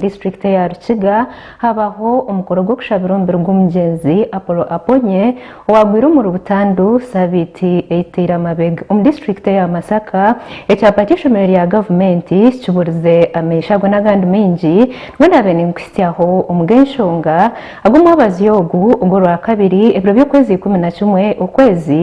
District eya Rukiga habaho omukoro gw'okushabira omubiri gw'omugyenzi Apollo Aponye owagwire omuri Butandu sabiiti eyitaire amabega. Omu district eya Masaka ekyapa ky'eishomero rya gavumenti kiburize ameisho ago n'agandi maingi nibwo naabaire ninkuhitsyaho omuri enshonga ag'omwabazi ogu ogw'orwakabiri ebiro by'okwezi ikumi na kimwe okwezi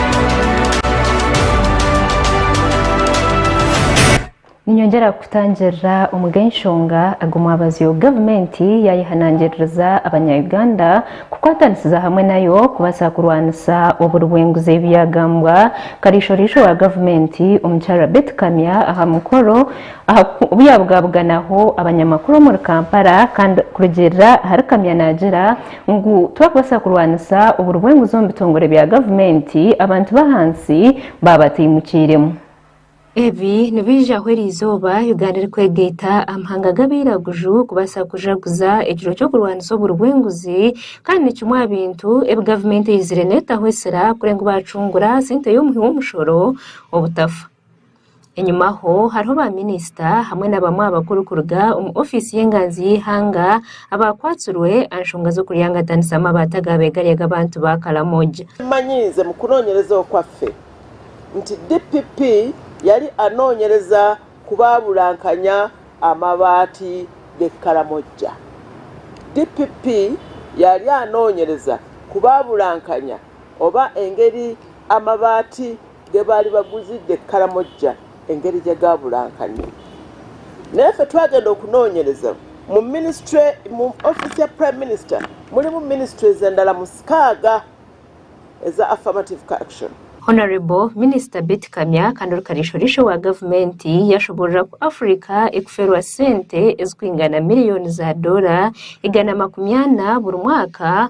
Ninyongyera kukutangirira omu g'enshonga aga omwabazyo gavumenti yaayehanangiririza abanya Uganda kukwatanisiza hamwe nayo kubaasa kurwanisa oburi bw'enguzi ebi byagambwa kariisho-riisho wa gavumenti omukyara Beti Kamya aha mukoro obu yaabugabuganaho abanyamakuru omuri Kampala kandi kurugiirira ahari Kamya naagira Ngu twakubaasa kurwanisa oburi bw'enguzi omu bitongore bya gavumenti, abantu b'ahansi baaba bataimukiiremu. Ebi nibaijaho eri izooba Uganda erikwegaita amahanga g'abairaguju kubaasa kujaguza ekiro ky'okurwanisa oburi bw'enguzi kandi ni kimwe aha bintu ebi gavumenti eizire neetaho esira kureba ngu baacungura sente y'omuhi w'omushoro obutafa. Enyima aho hariho baaminisita hamwe na bamwe aha bakuru kuruga omu ofiisi y'enganzi y'eihanga abaakwatsirwe aha nshonga z'okuryangatanisa amabaata agaabeegarya ag'abantu ba Karamoja. Mmanyiize mu kunoonyereza okwaffe nti DPP yali anoonyereza kubaabulankanya amabaati g'e Karamoja. DPP yali anoonyereza kubaabulankanya oba engeri amabaati ge baali baguzidde Karamoja engeri gye gaaburankanye. Naye ffe twagenda okunoonyereza mu minisitule mu ofiisi ya Prime Minister mulimu minisitures endala muskaaga eza Affirmative ka Action. Honourable Minisita Beti Kamya kandi ori Kariisho-riisho wa gavumenti yaashoboorora ku Africa ekufeerwa sente ezikwingana miriyoni za doora igana makumi ana buri mwaka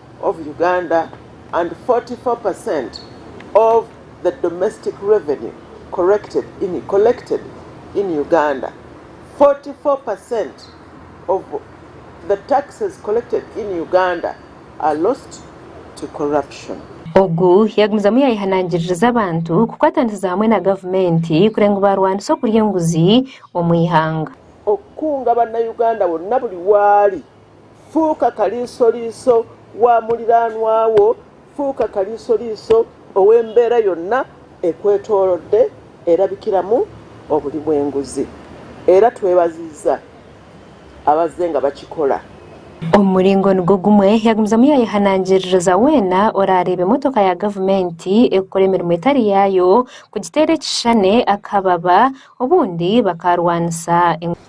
of Uganda and 44 per cent of the domestic revenue corrected in collected in Uganda 44 per cent of the taxes collected in Uganda are lost to corruption. Ogu yagumizamu yayehanangiririza abantu kukwatanisiza hamwe na gavumenti kureba ngu barwanisa okurya enguzi omu ihanga. Okukunga banauganda bonna buli waali Fuuka kariisoriiso wa muriraanwa wo. Fuuka kariisoriiso ow'embeera yonna ekwetoorode erabikiramu oburi bw'enguzi. Era twebaziiza abaze nga bakikora. Omu muringo nigwo gumwe, yagumizamu yaayehanangiririza weena oraareebe motoka ya gavumenti ekukora emirimo etari yaayo kugiteera ekishushane akababa, obundi bakaarwanisa.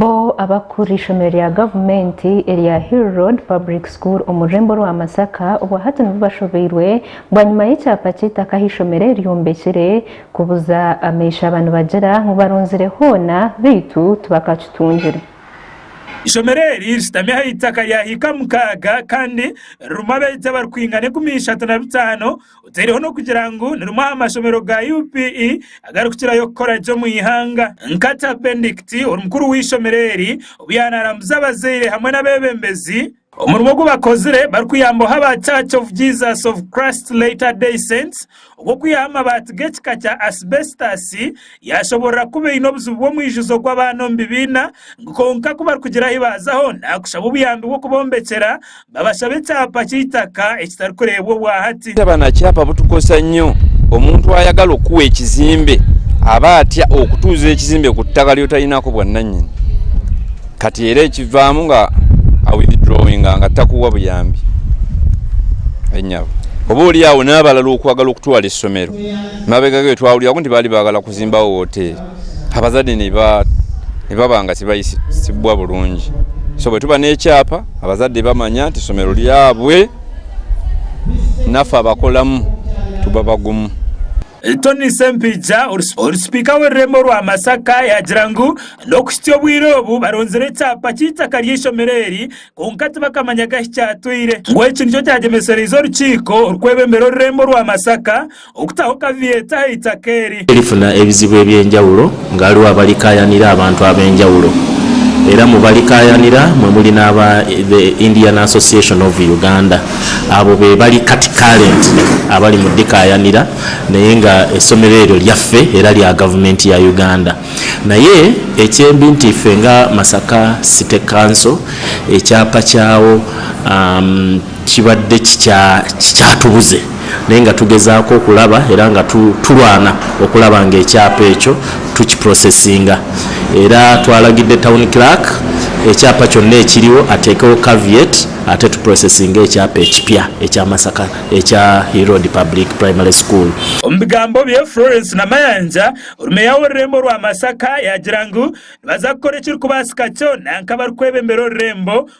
Bo abakukura eishomero rya gavumenti erya Hill Road Public School omu rurembo rwa Masaka obwa hati nibo bashobeirwe bwanyima y'ekyapa ky'eitaka ahu eishomero eri ryombekire kubuza ameishaba nibagira ngu barunzire hoona beitu tibakakitungire. Eishomero eri rishutami aha itaka rya hiika mukaaga kandi ririmu abaegi abarikwingana enkumi ishatu na bitaano. oteireho n'okugira ngu ni rimwe aha mashomero ga UPE agarikukirayo kukora gye omu ihanga. Nkata Bendict, ori mukuru w'eishomero eri, obu yaanarambuza abazaire hamwe n'abeebembezi, Omurimo ogu bakozire barikuyambaho aba Church of Jesus of Christ Latter-day Saints ogw'okwihaho amabaati g'ekika kya asibesitaasi Yaashoborora kuba eine obuzibu bw'omwijuzo gw'abaana omu bibiina ngu kwonka ku barikugira ahi baazaho naakushaba obuyambi bw'okubombekyera babashabe ekyapa ky'eitaka ekitarikureebwa obwa hati. Taba na kyapa butukoresa nnyo. Omuntu ayagala okukuha ekizimbe aba atya okutuuza ekizimbe ku ttaka ry'otarinaako bwannannyini. Kati era ekivaamu nga awithdrawinga nga takuwa buyambi. Enyabo. Oboolyawo n'abalala okwagala okutwala essomero. Mabega ge, twahurira ngu nibari bagala kuzimbaho hoteeri. Abazade nibabanga tibahisibwa burungi. So baitu tuba n'ekyapa, abazade bamanya nti ishomero ryabwe, nafe abakoramu tuba bagumu. Tonny Sempijja, ori sipiika w'orurembo rwa Masaka yagira ngu n'okuhitsya obwire obu baronzire ekyapa ky'eitaka ry'eishomero eri kwonka tibakamanyaga ahi kyatwire. Ngu eki nikyo kyagyemesereize orukiiko orukwebembera orurembo rwa Masaka Okutaho kaveeti aha itaka eri. Erifuna ebizibu eby'enjawulo ngu hariho abarikaayanira abantu ab'enjawulo era mu barikaayanira mwe muri n'aba The Indian Association of Uganda abo be bari kati current abari mu dikaayanira naye nga esomero eryo ryaffe era rya gavumenti ya Uganda naye ekyembi nti iffe nga Masaka City Council ekyapa kyawo Kibadde kikyatubuze naye nga tugezaako okulaba era nga turwana okulaba ngu ekyapa ekyo tukiprosesinga. Era twaragidde Town Clerk ekyapa kyonna ekiriho ateekeho caveat ate tuprosesinge ekyapa ekipya ekya Masaka ekya Hill Road Public Primary School. Omu bigambo bye, Florence Namayanja, ori Meeya w'orurembo rwa Masaka yaagira ngu nibaza kukora ekirikubaasika kyona nk'abarikwebembera orurembo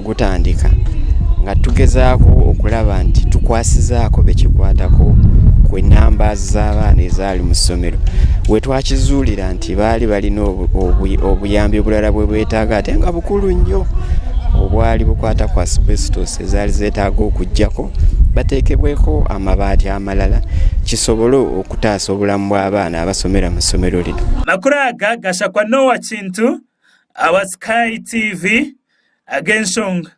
Gutandika nga tugezaaho okuraba nti tukwasize aha kuba ekikwatako ku namba z'abaana ezi ahari mu somero. We twakizuurira nti baari bari n'obuyambi oburara obu beetaaga ate nga bukuru nyo obwari bukwata ku asbestos ezaari zeetaaga okugyako bateekebweho amabaati amarara kisobore okutaasa oburamu bw'abaana abashomera omu ishomero rinu. Amakuru aga gashakwa n'owa Kintu awa Sky TV ag'enshonga.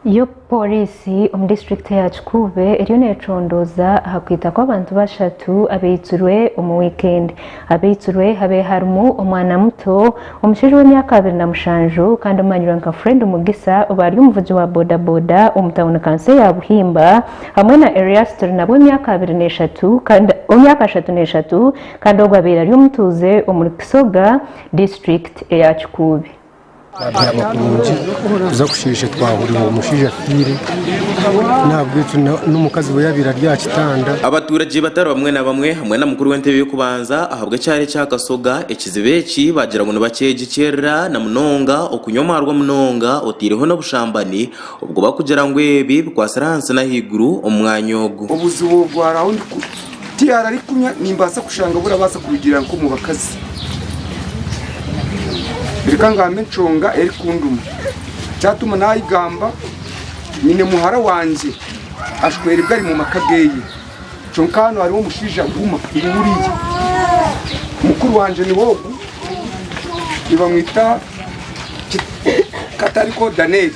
Yo Pooriisi omu disiturikiti ya Kikuube eriyo neecondooza aha kwita kw'abantu bashatu abeitsirwe omu wiikendi. Abeitsirwe habe harimu omwana muto, omushaija w'emyaka abiri na mushanju kandi omanyirwe nka Fred Mugisa obaari omuvugi wa bodaboda omu tauni kanso eya Buhimba hamwe na Erias Turinabe w'emyaka abiri n'eshatu kandi w'emyaka ashatu n'eshatu kandi ogwo abaire ari omutuuze omuri Kisoga disiturikiti eya Kikuube. Twabyama kurungi kuza kusheesha twahurira ngu omushaija afiire n'ahabw'ekyo n'omukazi we yaabaire ari aha kitanda. Abaturage batari bamwe na bamwe hamwe na mukuru w'entebe y'okubanza ahabw'ekyaro ekya Kasoga ekizibu eki baagira ngu nibakyegikyerera na munonga okunywa omwarwa munonga otaireho n'obushambani obwo barikugira ngu ebi bikwatsire ahansi n'ahaiguru omu mwanya ogu. Obuzibu obwaraho Tihaarari kunywa nimbaasa kushanga abu orabaasa kurugiirira nk'omu bakazi. Reka ngambe enshonga erikunduma. Kyatuma naagamba, nyine muhara wangye ashweribwe ari mu maka geeye. Kyonka hanu hariho omushaija Guma ngu wuriya. Mukuru wangye niwe ogu, nibamwita Katariko Daneeli.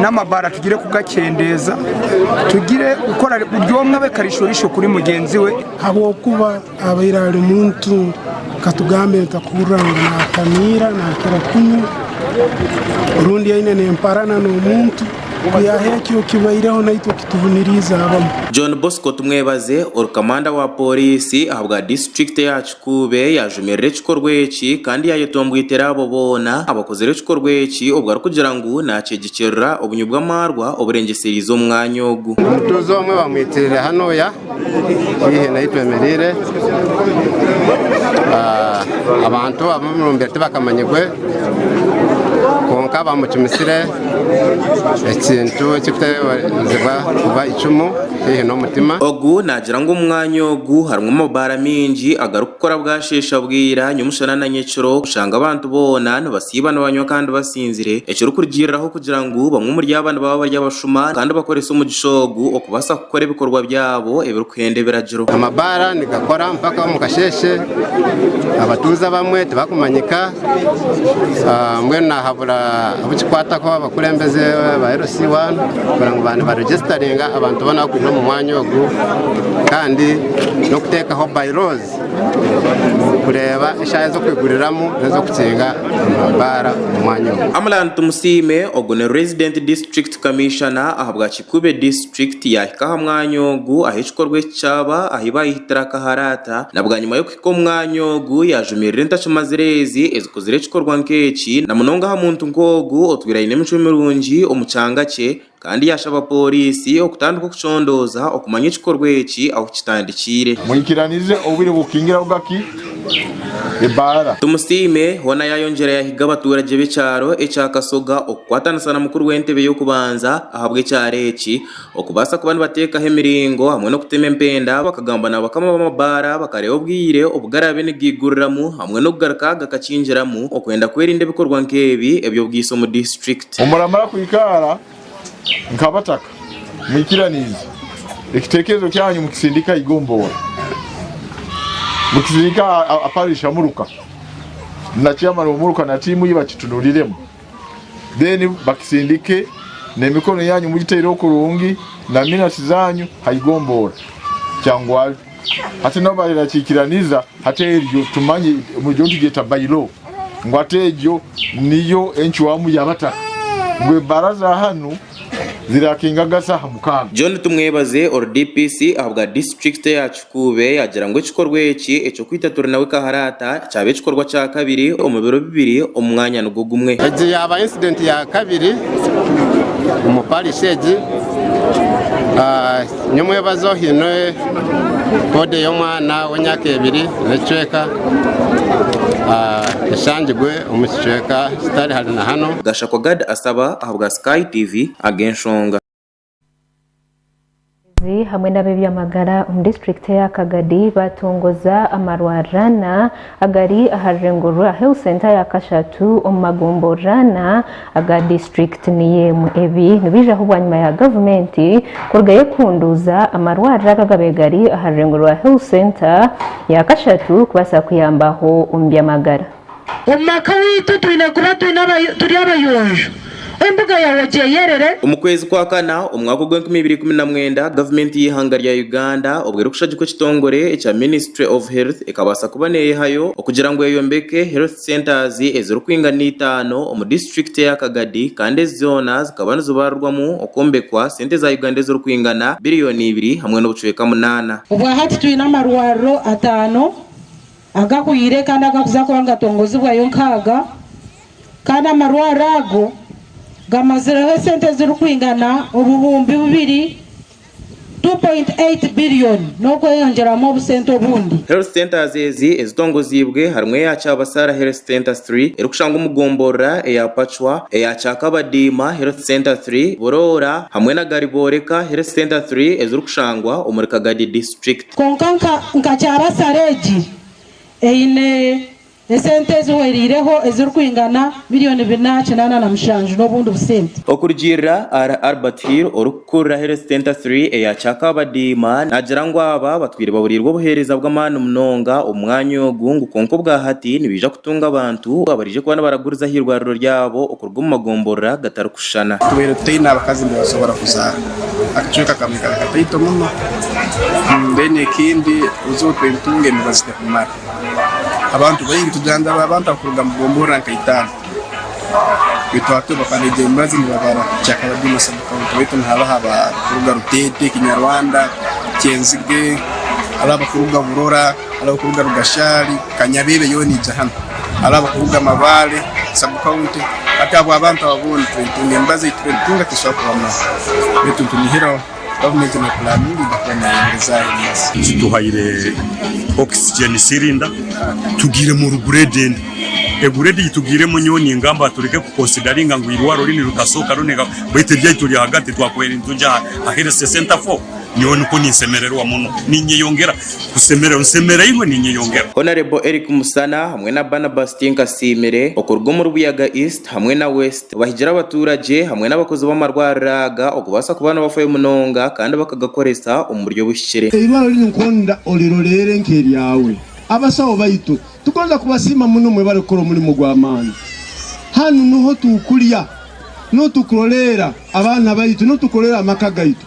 n'amabara tugire kugakyendeeza tugire kukora buri omwe abe karishorishi kuri mugyenzi we. Ahabw'okuba abaire ari muntu katugambe nitahurira ngu naatamiira naakira kunywa rundi aine n'emparana n'omuntu ku yaaha ekyo kibaireho naitwe kitubuniriize abamu. John Bosco Tumwebaze, Orukamanda wa Pooriisi ahabwa Disiturikiti ya. Kuube yaajumirira ekikorwa eki kandi yaayetomboitera abo boona abakozire ekikorwa eki obu arikugira ngu naakyegyikirira obunywi bw'amaarwa oburengyesereize omu mwanya ogu. Omutuuze omwe bamwitirire hanuuya haihi n'ahu twemereire. Abantu ab'omu rumbire tibakamanyirwe kwonka bamucumisire. ekintu ekirikuteeberezibwa kuba eicumu haihi n'omutima. Ogu naagira ngu omu mwanya ogu harimu amabaara maingi agarikukora bwasheesha bwira nyomushana na nyekiro kushanga abantu boona nibasiiba nibanywa kandi basinzire ekirikurugiiriraho kugira ngu bamwe omuri aba nibaba bari abashuma kandi bakorese omugisha ogu okubaasa kukora ebikorwa byabo ebirikuhenda ebiragiro. Amabaara nigakora mpaka omu kasheeshe abatuuze abamwe tibakumanyika. mbwenu nahabura abukikwataho abakurembeze ba LC One kugira ngu ba nibaregisitaringa abantu boona abarikuza omu mwanya ogu kandi n'okuteekaho by laws kureeba eshaaha ez'okwiguriramu n'ez'okukinga amabaara omu mwanya ogu. Amlan Tumusiime, ogu ni Resident District Commissioner ahabwa Kikube District yaahika aha mwanya ogu ahu ekikorwa eki kyaba ahu baayehitire akaharaata na bwanyima y'okuhitsya Kwonka omwanya ogu yaajumirira entakimazire ezi ezikuzire ekikorwa nk'eki, na munonga aha muntu nk'ogu otwire aine emicwe mirungi omu kyanga kye, kandi yaashaba pooriisi okutandika okucondooza okumanya ekikorwa eki ahu kitandikiire. Mwikiranize obwire bw'okukingiraho gaki ebaara. Tumusiime hoona yaayongyera yahiga abatuuragye b'ekyaro ekya Kasoga okukwatanisa na mukuru w'entebe y'okubanza ahabw'ekyaro eki, Okubaasa kuba nibateekaho emiringo hamwe n'okutema empenda, bakagamba n'abakama b'amabaara bakareeba obwire obu garaabe nigaiguriramu hamwe n'okugaruka gakakingiramu okwenda kwerinda ebikorwa nk'ebi eby'obwiso omu disiturikiti. Muramara kwikaara nk'abataka mwikiraniize ekitekerezo kyanyu mukisindika aha igomboora, mukisindika aha parish amuruka na chairman w'omuruka na tiimu ye bakitunuuriremu. then bakisindike nemikono yanyu mugiteireho kurungi na minasi zanyu haigomboora kyangwari hati nabo barakikiraniza hati eryo tumanye muryo nitugyeta bailo ngu hati egyo niyo encwamu yabataka ngu ebaraza hanu zirakinga gasi aha mukaaga. John Tumwebaze ori DPC ahabwa disiturikiti ya Kikuube yaagira ngu ekikorwa eki eky'okwita Turi Nawe Kaharaata kyaba ekikorwa kya kabiri omu biro bibiri omu mwanya nigwo gumwe. Egi yaaba incident ya kabiri omu parish egi. Ni omwebazo haine body y'omwana w'emyaka ebiri n'ekicweka eshangirwe omu kicweka kitari hari na hanu. Gashakwa Gad Asaba. ahabwa Sky TV ag'enshonga. Abeebembezi hamwe n'ab'ebyamagara omu disiturikiti eya Kagadi baatongoza amarwariro ana agari aha rurembo rwa Health Centre ya Kashatu omu magomborero ana aga disiturikiti niyo emwe. Ebi nibaijaho bwanyima ya gavumenti kurugayo ekuunduuza amarwariro aga agaabaire gari aha rurembo rwa Health Centre ya Kashatu kubaasa kuyambaho omu by'amagara. Omu maka waitu twine kuba turi abayonjo, embuga yawe ogyeyerere. Omu kwezi kwa kana omu mwaka ogw'enkumi ibiri ikumi na mwenda, gavumenti y'eihanga rya Uganda obu erikushagikwa ekitongore ekya Ministry of Health ekabaasa kuba neyehayo okugira ngu eyombeke Health Centres ezirikwinga n'eitaano omu disiturikiti eya Kagadi kandi ezi zoona zikaba nizibarirwamu okwombekwa sente za Uganda ezirikwingana biriyoni ibiri hamwe n'obucweka munaana. Obwahati twine amarwariro ataano. agahwire kandi agakuza kuba nigatongozibwayo nkaaga kandi amarwaro ago gamazireho esente ezirikwingana obuhumbi bubiri, 2.8 billion, n'okweyongyeramu obusente obundi. Health centres ezi ezitongoziibwe harimu eya Kyabasara Health Centre iii erikushangwa omu gomborora eya Pacwa, eya Kyakabadiima Health Centre iii, Buroora, hamwe na Garibooreka Health Centre iii ezirikushangwa omuri Kagadi District. Kwonka nka kyabasare egi eine esente ezihwereireho ezirikwingana miliyoni bina kinaana na mushanju n'obundi busente. Okurugiirira ahari Albert Hill orikukurira Health Centre Three eya Kyakabadiima, naagira ngu aba batwire baburirwe obuheereza bw'amaani munonga omu mwanya ogu ngu kwonka obwahati nibaija kutunga abantu abaraije kuba nibaraguriza aha irwariro ryabo. Ogu omu magomborora gatarikushushana. Tubaire tutaine abakazi nibasobora kuzaara akacweka kamwe kari kataito muno then ekindi ozi otwe ntunga emibazi tekumara abantu baingi tugira ngu abo abantu abakuruga omu gomborora nka itaano baitu hati obafana egyo mibazi nibabara kyakaba been a sub county baitu nihabaho abakuruga Rutete, Kinyarwanda, Kyenzige hariho abakuruga Burora. Ari abarikuruga Rugashari, Kanyabebe yoona eija hanu. Ari abarikuruga Mabare, Sub County. Hati abo abantu abo boona turitunga emibazi ei turitunga tesoboora kubamara. Beitu nitunihiraho gavumenti ne puraninga eija kuba neyongyezaayo emibazi. Tuhaire oxygen cylinder tugiiremu oru grade endi. E grade ei tugiiremu nyowe ningamba tureke ku consideringa ngu eirwariro ri nirikasooka roneka beitu eryaitwe ryahagati twakubaire nitugya aha health center fo. Nyowe nikwo ninsemererwa muno. Ninyeyongera kusemererwa. Nsemereirwe, ninyeyongera. Honourable Eric Musana hamwe na Barnabas Tinkasiimire okuruga omuri Buyaga East hamwe na West bahigire abatuuragye hamwe n'abakozi b'amarwariro aga okubaasa kuba nibafayo munonga kandi bakagakoresa omu buryo obuhikire. Eirwariro riri nk'onda oriroreire nk'eryawe. Abashaho baitu, tugonza kubasiima muno mwe barikukora omurimo gw'amaani. Hanu nuho turikurya, nuho turikuroreera abaana baitu, nuho turikuroreera amaka gaitu.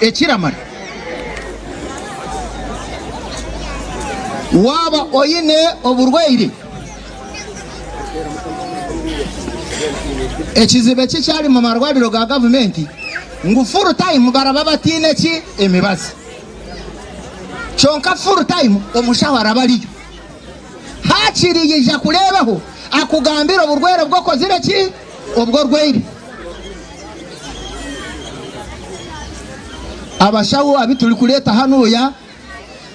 ekiramara. Waaba oine oburwaire, ekizibu ekikyari mu marwariro ga gavumenti ngu full time baraba bataine ki emibazi. Kyonka full time omushaho araba ariyo hakiri yaija kureebaho akugambire oburwaire obu okozire ki. Obwo orwaire. Abashaho abi turikureeta hanuuya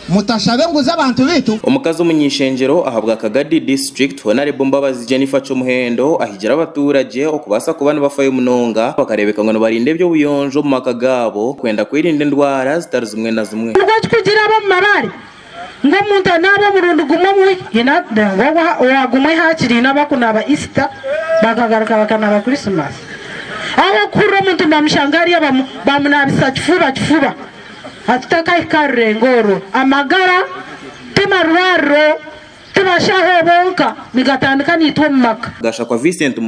mutashabe enguzi abantu baitu. Omukazi omuny'eishengyero ahabwa Kagadi District, Honarebo Mbabazi Jennifer Kyomuhendo ahigire abatuuragye okubaasa kuba nibafayo munonga bakareebeka ngu nibarinda eby'obuyonjo omu maka gaabo kwenda kwerinda endwara zitari zimwe na zimwe. Nikwo kugira ab'omu mabaare Ngu omuntu anaabe omurundi gumwe omu wiiki, haine ngu ogwo owa gumwe haakiri haine abakunaaba Isita, bakagaruka bakanaaba Kurisimasi. Ahabw'okuhurira omuntu nibamushanga hariya bamu bamunaabisa kifuba kifuba. A Tutakahika aha rurengo orwo, amagara ti marwariro, ti bashaho bonka, nigatandika naitwe omu maka. Gashakwa Vincent Mugisha.